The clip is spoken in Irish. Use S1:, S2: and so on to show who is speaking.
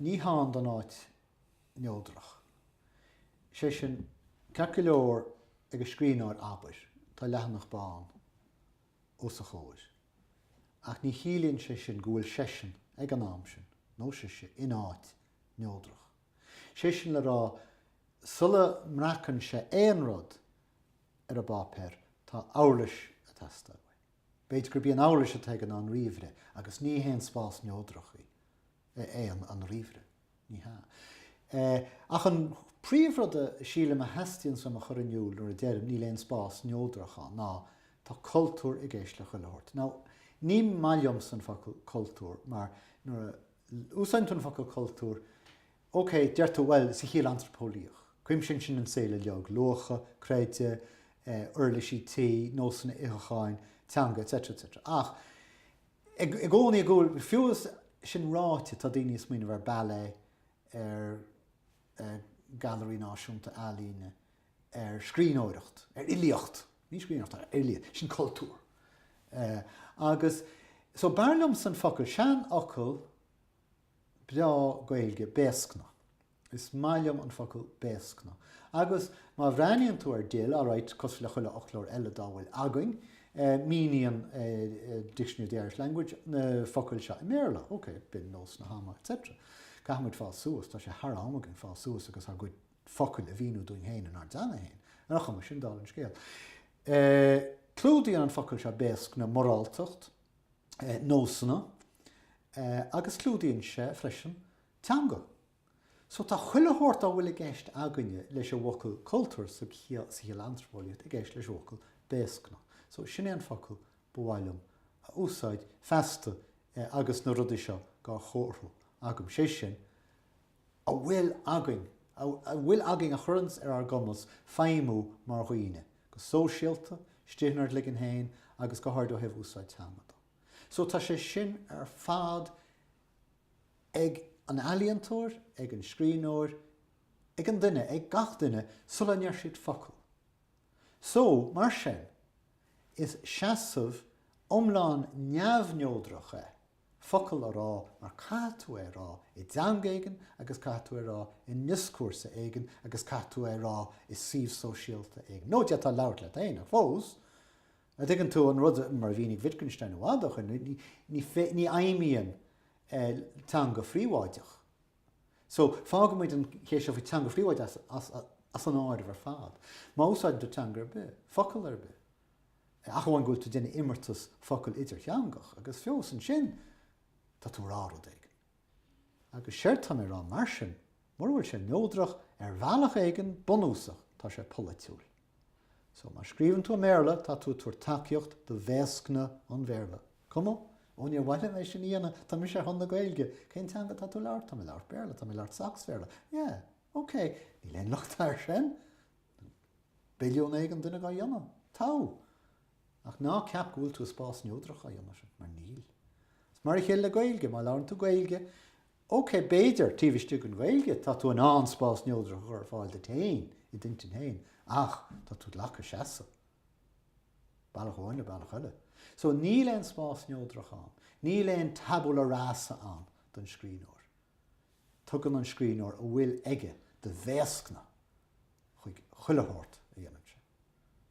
S1: Ní hann don áit neodrach. Is é sin, ceart go leor, ag an scríbhneoir, abair, tá leathanach bán os a chomhair, ach ní chiallaíonn sé sin go bhfuil seisean, ag an am sin, nó sise, in áit neodrach. Is é sin le rá, sula mbreacann sé aon rud ar an bpáipéar, tá uirlis ag teastáil uaidh. B'fhéidir gurb í an uirlis atá aige an ríomhaire agus ní haon spás neodrach é an ríomhaire. Ní hea. Ach an príomhrud a sílim a theastaíonns uaim a chur in iúl nuair a deirim níl aon spás neodrach ann ná tá cultúr i gceist le chuile shórt. Now, ní maith liomsa an focal 'cultúr' mar nuair a úsáideann tú an focal 'cultúr', OK, deirtear, bhuel, sa chiall antraipeolaíoch. Cuimsíonn sin an saol uiliog, luacha, creideamh, uirlisí tí, nósanna itheacháin, teanga, etc. etc. Ach i gcónaí i gcúl, fiú is sin ráite, tá daoine ag smaoineamh ar ballet, ar Gailearaí Náisiúnta Ealaíne, ar scríbhneoireacht, ar fhilíocht. Ní scríbhneoireacht, ar fhilíocht. Sin cultúr. Agus, so, b'fhearr liomsa an focal, seanfhocal, breá Gaeilge, béascna. Is maith liom an focal béascna. Agus má bhreathnaíonn tú ar DIL, alright, cosúil le chuile fhoclóir eile dá bhfuil againn, míníonn Dictionary of the Irish Language na focail seo i mBéarla, ok, binn, nós na hama, etc. Caithfidh muid fás suas, tá sé thar am againn fás suas agus ár gcuid focal a mhíniú dúinn féin inár dteanga féin. Ar aon chuma sin, dála an scéil, clúdaíonn an focal seo béascna moráltacht, nósanna agus clúdaíonn sé freisin teanga. So tá chuile shórt dá bhfuil i gceist againne leis an bhfocal cultúr sa chiall antraipeolaíoch i gceist leis an bhfocal béascna. So sin é an focal ba mhaith liom a úsáid feasta agus na rudaí seo dhá chomharthú agam, sé sin, a bhfuil againn, a bhfuil againn a chuireanns ar ár gcumas feidhmiú mar dhaoine, go sóisialta, istigh inár gcloigeann féin agus go háirid ó thaobh úsáid teanga de. So tá sé sin ar fad ag an ealaíontóir, ag an scríbhneoir, ag an duine, ag gach duine sula ndeir siad focal. So, mar sin, is seasamh iomlán neamhneodrach é. focal a rá mar caithfidh tú é a rá i dteanga éigin agus caithfidh tú é a rá i ndioscúrsa éigin agus caithfidh tú é a rá i suíomh sóisialta éigin, nó d'fhéadfá labhairt leat féin ach fós, an dtuigeann tú an rud, mar a mhínigh Wittgenstein i bhfad ó shin, ní fheidhmíonn teanga phríobháideach. So, fágfaidh muid an cheist seo faoi teanga phríobháideach as an áireamh ar fad. Má úsáideann tú teanga ar bith, focal ar bith, ach amháin go bhfuil tú déanamh imeartas focal idirtheangach agus fiú ansin tá tú a rá rud éigin. Agus séard tá mé a rá mar sin, mura bhfuil sé neodrach ar bhealach éigin bunúsach tá sé polaitiúil. So má scríobhann tú i mBéarla tá tú ag tabhairt tacaíocht do bhéascna an Bhéarla. Cuma? Ó níor mhaith liom é sin a dhéanamh, tá mise ar son na Gaeilge. Cén teanga atá tú a labhairt? Tá mé a labhairt Béarla, tá mé a labhairt Sacs-Bhéarla. Yeah, ok, níl aon locht air sin. billiún éigin duine dá dhéanamh. Tá. Ach ná ceap go bhfuil tú i spás neodrach á dhéanamh sin, mar níl. Is mar a chéile le Gaeilge, má labhrann tú Gaeilge, OK, b'fhéidir, taobh istigh den Ghaeilge, tá tú in ann spás neodrach a chur ar fáil duit féin, i d'intinn féin, ach tá tú glacadh seasamh, bealach amháin nó bealach eile. So níl aon spás neodrach ann, níl aon tabula rasa ann don scríbhneoir. Tugann an scríbhneoir a bhfuil aige de bhéascna chuig chuile shórt a dhéanann sé.